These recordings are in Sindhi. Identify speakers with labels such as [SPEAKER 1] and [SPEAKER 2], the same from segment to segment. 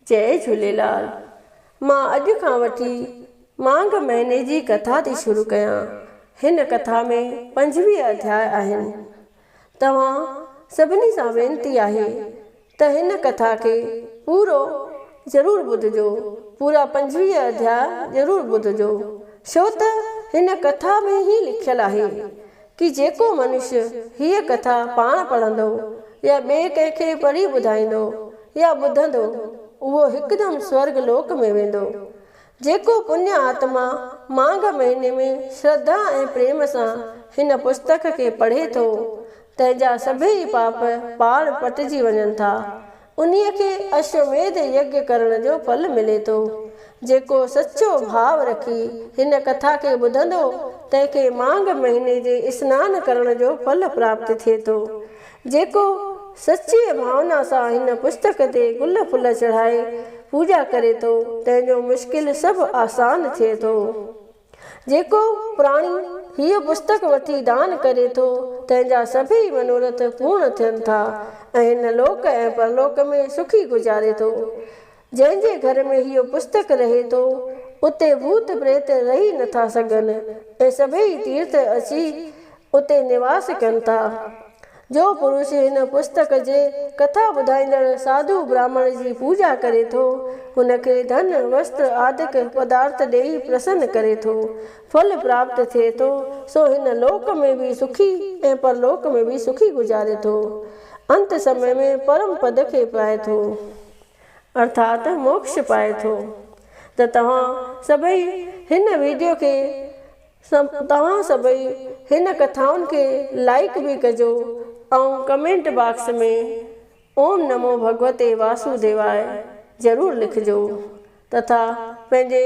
[SPEAKER 1] جئي جهوليلال مان اڄ کان وٺي ماگھ مهيني جي ڪٿا ٿي شروع ڪيان هن ڪٿا ۾ پنجويهه اڌياء آهن توهان سڀني سان وينتي آهي ته هن ڪٿا کي پورو ضرور ٻڌجو پورا پنجويهه اڌيا ضرور ٻڌجو ڇو ته هن ڪٿا ۾ هي لکيل آهي ڪي جيڪو منشي هيء ڪٿا پاڻ پڙهندو يا ٻئي ڪنهن کي پڙهي ٻڌائيندو يا ٻڌندو، اهو هڪدم سورڳ لوڪ ۾ ويندو. جيڪو پڃ آتما ماگھ مهيني ۾ شرڌا ۽ پريم سان هن پستڪ کي پڙهي ٿو، تنهن جا سڀيئي پاپ پاڻ پٽجي وڃن ٿا. انهيء کي اشوميڌ يگيا ڪرڻ جو ڦل ملي ٿو. جيڪو سچو ڀاء رکي هن ڪٿا کي ٻڌندو، تنهن کي مانگ مهيني جي اسنان ڪرڻ جو ڦل پراپت ٿئي ٿو. جيڪو سچيء ڀاونا سان هن پستڪ تي گل ڦل چڙهائي پوڄا ڪري ٿو، تنهن جو مشڪل سڀ آسان ٿئي ٿو. جيڪو پراڻي هيء پستڪ وٺي دان ڪري ٿو، تنهن جا سڀيئي منورٿ پورڻ ٿين ٿا ۽ هن لوڪ ۽ پرلوڪ ۾ سکي گذاري ٿو. جنهن جي گهر ۾ هيء پستڪ رهي ٿو، اتي ڀوت پريت رهي نه ٿا سگهن ۽ سڀيئي تيرٿ اچي اتي نواس ڪن ٿا. جو پروشي هن پستڪ جي ڪٿا ٻڌائيندڙ ساڌو براهمڻ جي پوڄا ڪري ٿو، هن کي ڌن، وستر آدڪ پدارٿ ڏيئي پرسن ڪري ٿو. ڦل پراپت ٿئي ٿو، سو هن لوڪ ۾ به سکي ۽ پرلوڪ ۾ به سکي گذاري ٿو. انت سمي ۾ پرم پد کي پائي ٿو. ارٿات موڪش پائي ٿو. ته توهان سڀئي هن ويڊيو کي توهان سڀئي هن ڪٿائن کي لائيڪ به ڪجو ۽ ڪمينٽ باڪس ۾ اوم نمو ڀڳوتي واسو ديواء ضرور لکجو تٿا پنهنجي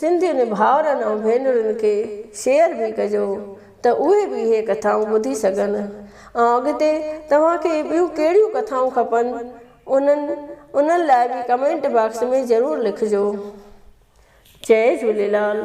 [SPEAKER 1] سنڌين ڀائرن ۽ ڀينرن کي شيئر به ڪجو ته اهي به اهي ڪٿائون ٻڌي سگهن ۽ اڳتي توهان کي ٻيون ڪهڙيون ڪٿائون کپن انهن انهن لاء به ڪمينٽ باڪس ۾ ضرور لکجو جئي جهوليلال.